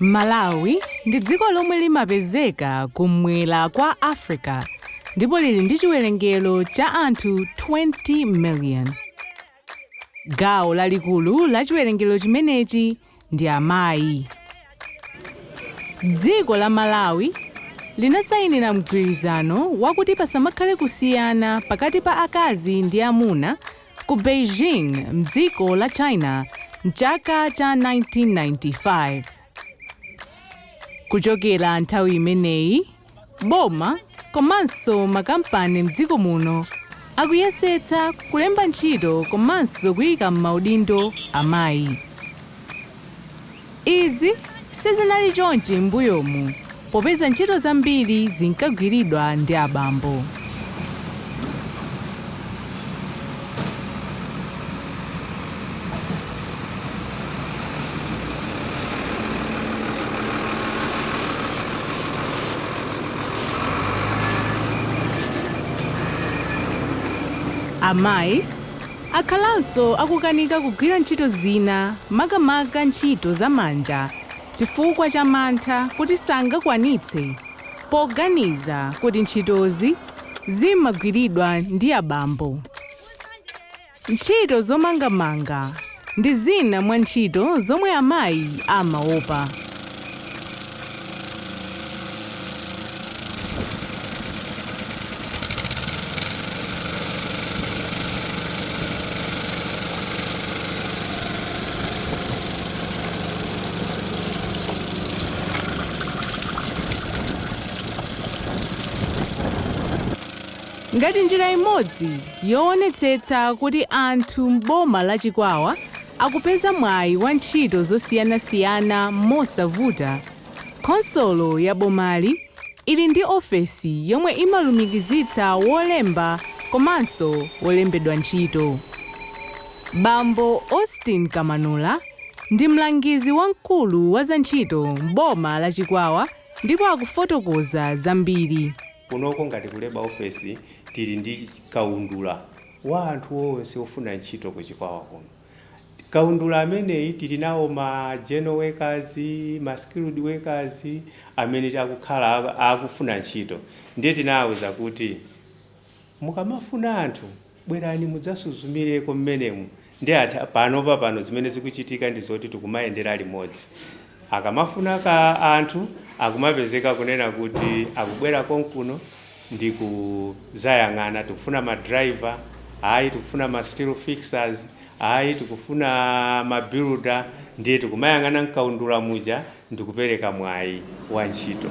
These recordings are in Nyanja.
Malawi ndi dziko lomwe limapezeka kum'mwera kwa Africa ndipo lili ndi chiwerengero cha anthu 20 million. Gawo lalikulu la chiwerengero chimenechi ndi amayi. Dziko la Malawi linasayinira mgwirizano wakuti pasamakhale kusiyana pakati pa akazi ndi amuna ku Beijing m'dziko la China m'chaka cha 1995. Kuchokera nthawi imeneyi, Boma komanso makampani mdziko muno akuyesetsa kulemba ntchito komanso kuika mmaudindo amayi. Izi sizinali chonchi mmbuyomu popeza ntchito zambiri zinkagwiridwa ndi abambo. Amayi akhalanso akukanika kugwira ntchito zina makamaka ntchito za manja chifukwa cha mantha kuti sangakwanitse poganiza kuti ntchitozi zimagwiridwa ndi abambo. Ntchito zomangamanga ndi zina mwa ntchito zomwe amayi amaopa. Ngati njira imodzi yoonetsetsa kuti anthu m'boma la Chikwawa akupeza mwayi wa ntchito zosiyanasiyana mosavuta, khonsolo ya bomali ili ndi ofesi yomwe imalumikizitsa wolemba komanso wolembedwa ntchito. Bambo Austin Kamanula ndi mlangizi wamkulu wa zantchito m'boma la Chikwawa. ndipo akufotokoza zambiri. Kunoko ngati ku Labour Office tili ndi kaundula wa anthu onse ofuna ntchito ku Chikwawa kuno. Kaundula ameneyi tili nawo ma general workers, ma skilled workers amene akukhala akufuna ntchito ndiye tinawauza kuti. Mukamafuna anthu bwerani mudzasuzumireko mmenemu ndiye panopa pano zimene zikuchitika ndi zoti tikumayendera limodzi akamafuna ka anthu akumapezeka kunena kuti akubwera konkuno ndi kuzayang'ana tikufuna ma driver ayi tikufuna ma steel fixers ayi tikufuna ma builder ndiye tikumayang'ana mkaundula muja ndikupereka mwayi wa ntchito.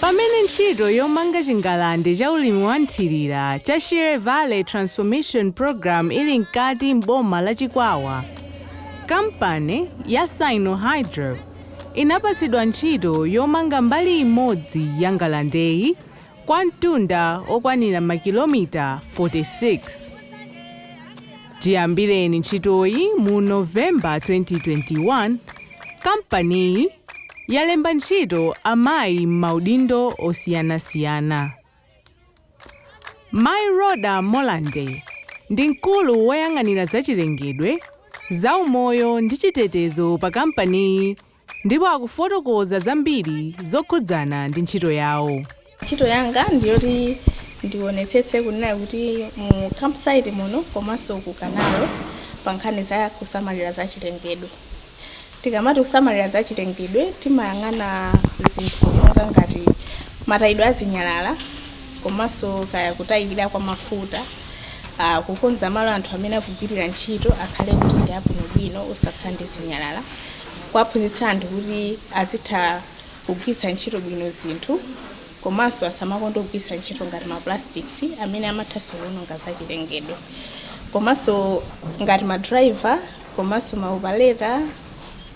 Pamene ntchito yomanga chingalande cha ulimi wa mthirira cha Shire Valley Transformation Programme ili mkati m'boma la Chikwawa, kampani ya Sinohydro, inapatsidwa ntchito yomanga mbali imodzi ya ngalandeyi kwa mtunda okwanira makilomita 46. Chiyambireni ntchitoyi mu November 2021, kampaniyi yalemba ntchito amayi m'maudindo osiyanasiyana. Mayi Rhoda Molande ndi mkulu woyang'anira zachilengedwe, zaumoyo ndi chitetezo pa kampaniyi ndipo akufotokoza zambiri zokhudzana ndi ntchito yawo. Ntchito yanga ndi yoti ndionetsetse kunena kuti mu campsite muno komanso ku canal pankhani za kusamalira zachilengedwe. Tikamati kusamalira zachilengedwe timayang'ana zinthu monga ngati matayidwe a zinyalala komanso kaya kutayikira kwa mafuta, ah, kukonza malo anthu amene akugwirira ntchito akhale kuti ndi abwinobwino osakhala ndi zinyalala, kuwaphunzitsa anthu kuti azitha kugwiritsa ntchito bwino zinthu komanso asamakonde kugwiritsa ntchito ngati ma plastics amene amatha kuwononga zachilengedwe. Komanso ngati ma driver komanso ma operator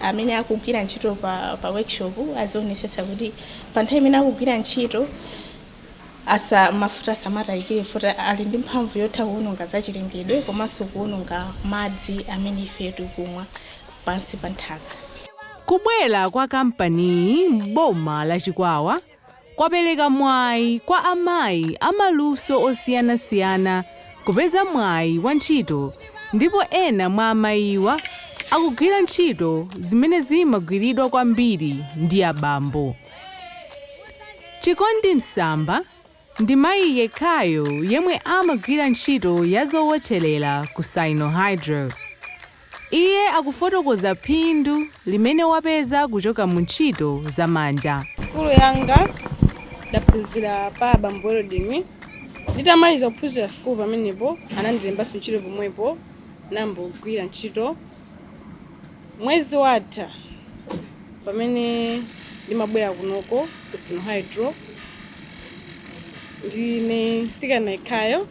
amene akugwira ntchito pa, pa workshop azionetsetsa kuti pa nthawi imene akugwira ntchito asa mafuta asamatayikire mafuta ali ndi mphamvu yotha kuwononga zachilengedwe komanso kuwononga madzi amene ife tikumwa pansi pa nthaka kubwera kwa kampaniyi m'boma la Chikwawa kwapereka mwayi kwa amayi a maluso osiyanasiyana kupeza mwayi wa ntchito ndipo ena mwa amayiwa akugwira ntchito zimene zimagwiridwa kwambiri ndi abambo. Chikondi Msamba ndi mayi yekhayo yemwe amagwira ntchito ya zowotcherera ku Sinohydro. Iye akufotokoza phindu limene wapeza kuchoka mu ntchito za manja. Sukulu yanga ndinaphunzira pa abambo welding. Nditamaliza kuphunzira sukulu pamenepo anandilembanso ntchito pomwepo nayamba kugwira ntchito. Mwezi watha pamene ndimabwera kunoko ku Sinohydro ndine mtsikana yekhayo.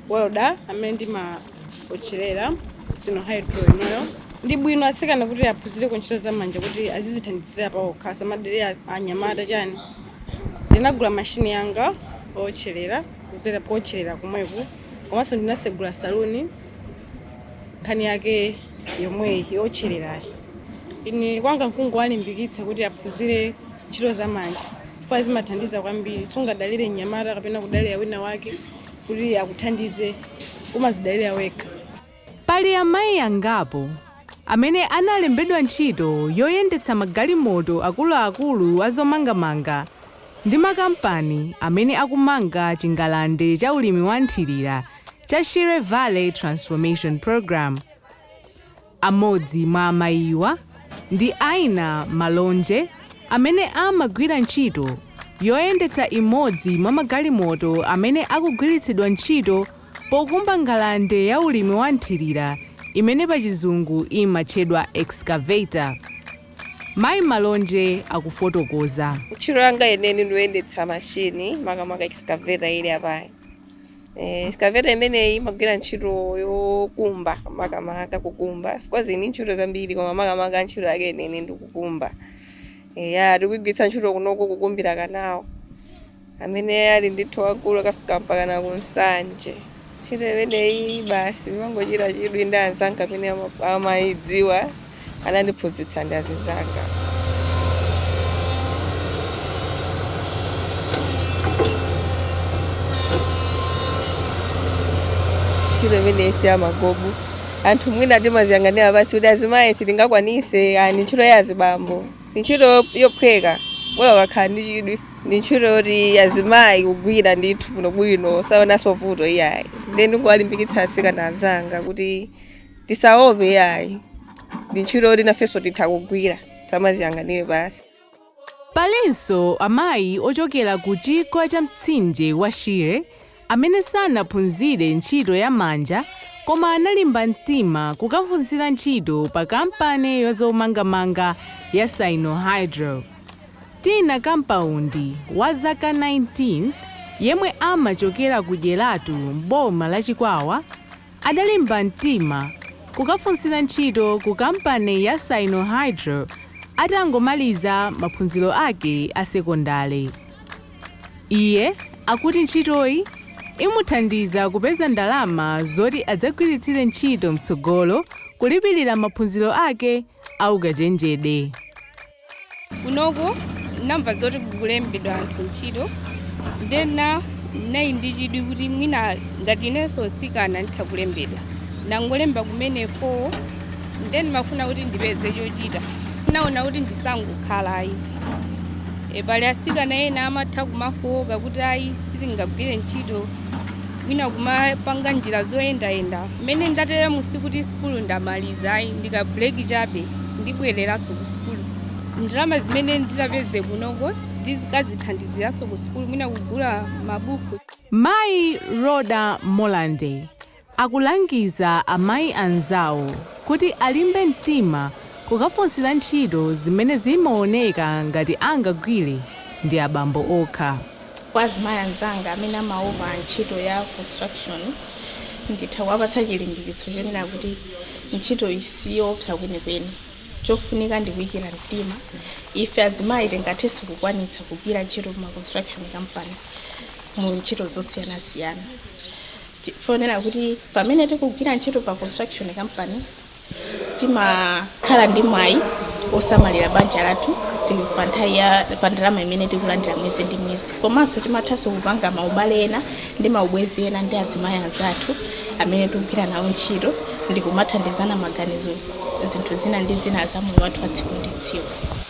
welder amene ndimaotcherera ku Sinohydro kunoyo ndi bwino atsikana kuti aphunzireko ntchito za manja kuti azizithandizira paokha asamadalire a- anyamata chani ndinagula mashini yanga ootcherera kudzera kuotcherera komweku komanso ndinasegula saluni nkhani yake yomweyi yootchererayi ine kwanga nkungowalimbikitsa kuti aphunzire ntchito za manja chifukwa zimathandiza kwambiri sungadalire mnyamata kapena kudalira wina wake kuti akuthandize umazidalira wekha. Pali amayi angapo amene analembedwa ntchito yoyendetsa magalimoto akuluakulu a zomangamanga ndi makampani amene akumanga chingalande cha ulimi wa nthirira cha Shire Valley Transformation Programme. Amodzi mwa amayiwa ndi Aina Malonje amene amagwira ntchito yoyendetsa imodzi mwa magalimoto amene akugwiritsidwa ntchito pokumba ngalande ya ulimi wa nthirira imene pachizungu imatchedwa excavator. Mayi Malonje akufotokoza. Ntchito yanga yeniyeni ndi yoyendetsa mashini makamaka excavator ili apayi. Eh, excavator imeneyi imagwira ntchito yokumba makamaka kukumba of course ni ntchito zambiri koma makamaka ntchito yake yeniyeni ndi kukumba Eh, ya tikugwiritsa ntchito kunoko kukumbira kanawo amene ali ndithu waukulu ukafika mpaka na ku Nsanje ntchito imeneyi basi ndinangochita chidwi ndi anzanga amene ama- amayidziwa anandiphunzitsa ndi azizanga. ntchito imeneyi si yamagobo anthu mwina timaziyang'anira pansi kuti azimayi sitingakwanise ndi ntchito ya azibambo ndi ntchito yophweka bola ukakhala ndi chidwi ndi ntchito yoti azimayi kugwira ndithu bwinobwino saonanso vuto iyayi nde ndikuwalimbikitsa asikana anzanga kuti Tisaope yayi. Ndi ntchito yoti nafenso titha kugwira. Tisamaziyang'anire pansi. Palinso amayi ochokera ku chigwa cha mtsinje wa Shire amene sanaphunzire ntchito ya manja koma analimba mtima kukafunsira ntchito pa kampani ya zomangamanga ya Sinohydro. Tina Kampaundi wa zaka 19 yemwe amachokera ku Dyeratu m'boma la Chikwawa, adalimba mtima kukafunsira ntchito ku kampani ya Sinohydro atangomaliza maphunziro ake a sekondale. Iye akuti ntchitoyi imuthandiza kupeza ndalama zoti adzagwiritsire ntchito mtsogolo kulipirira maphunziro ake a ukachenjede. kunoku namva zoti kukulembedwa anthu ntchito nde ndinali ndi chidwi kuti mwina ngati inenso mtsikana nditha kulembedwa nangolemba kumene Form 4 nde ndimafuna kuti ndipeze chochita naona kuti ndisangokhala ayi, pali asikana ena amatha kumafowoka kuti ayi sitingagwire ntchito mwina kumapanga njira zoyendayenda mmene ndatere mu sikuti sukulu ndamaliza ayi ndi ka break chabe ndibwereranso ku sukulu ndalama zimene nditapeze kunoko ndizikadzithandiziranso ku sukulu mwina kugula mabuku Mayi Rhoda Molande akulangiza amayi anzawo kuti alimbe mtima kukafunsira ntchito zimene zimaoneka ngati angagwire ndi abambo okha. Kwa azimayi anzanga amene amaopa ntchito ya construction, nditha kuwapatsa chilimbikitso chonena kuti ntchitoyi siyoopsa kwenikweni. Chofunika ndi kuikira mtima. Ife azimayi tingathenso kukwanitsa kugwira ntchito m'ma construction company mu ntchito zosiyanasiyana. Chifukwa chonena kuti pamene tikugwira ntchito pa construction company, timakhala ndi mwayi wosamalira banja lathu ti- pa nthawi ya pa ndalama imene tikulandira mwezi ndi mwezi komanso timathanso kupanga maubale ena ndi maubwenzi ena ndi azimayi anzathu amene tikugwira nawo ntchito ndi kumathandizana maganizo zinthu zina ndi zina za moyo wathu wa tsiku ndi tsiku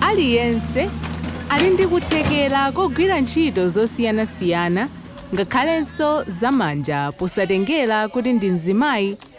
Aliyense ali ndi kuthekera kogwira ntchito zosiyanasiyana ngakhalenso za manja posatengera kuti ndi mzimayi